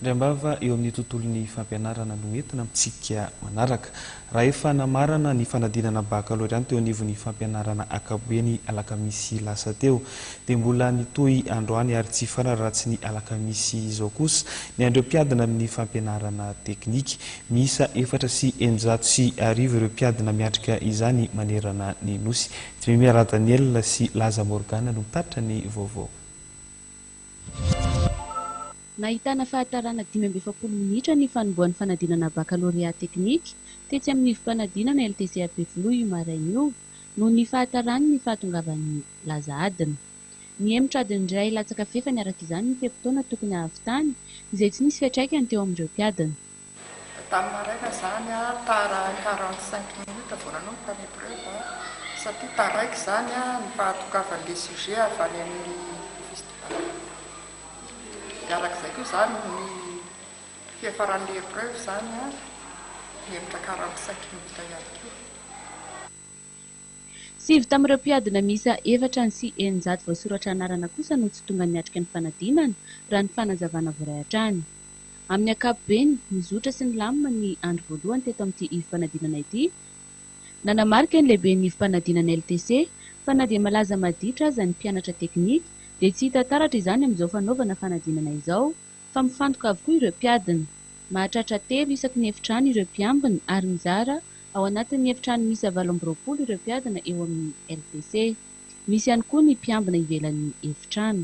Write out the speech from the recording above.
Ny ambava eo amin'ny tontolon'ny fampianarana no entina amintsika manaraka. Raha efa namarana ny fanadinana bakalorea teo anivon'ny fampianarana akapobe-ny alakamisy lasa teo, dia mbola nitohy androany ary tsy fararatsy ny alakamisy izao kosa ny an'ireo mpiadina amin'ny fampianarana teknika. Miisa efatra sy eninjato sy arivo ireo mpiadina miatrika izany manerana ny Nosy. Dmimie Radaniel sy Laza Morgane no mitaritra ny vaovao. Nahitana fahatarana dimy amby efapolo minitra ny fanombohan'ny fanadinana bakalorea teknika tetsy amin'ny ivom-panadinana LTC Ampefiloha io maraina io noho ny fahatarany ny fahatongavan'ny laza adina. Nihemotra adiny iray latsaka fefany araka izany ny fe-potoana tokony hahavitany izay tsy nisy fiantraikany teo amin'ireo mpiadina. Tamin'ny maraina izany aho tara quarante cinq minutes vao nanomboka ny épreuve satria taraiky izany ny fahatokavan'ilay sujet avy any amin'ny festival. Dia arak'izay koa izany ny fiafaran'ilay épreuve izany nihemotra quarante cinq minutes ihany koa. Sivy tamin'ireo mpiadina miisa efatra any sy eninjato voasoratra anarana kosa no tsy tonga niatrika ny fanadinana, raha ny fanazavana voaray hatrany. Amin'ny ankapobeny, nizotra sy nilamina ny andro voalohany teto amin'ity ivom-panadinana ity. Nanamarika ny lehiben'ny ivom-panadinana LTC fa na dia malaza maditra aza ny mpianatra teknika dia tsy hita taratra izany amin'izao fanaovana fanadinana izao fa mifantoka avokoa ireo mpiadina. Mahatratra telo isaky ny efitrano ireo mpiambina ary mizara ao anatin'ny efitrano miisa valo amby roapolo ireo mpiadina eo amin'ny LTC. Misy ihany koa ny mpiambina ivelan'ny efitrano.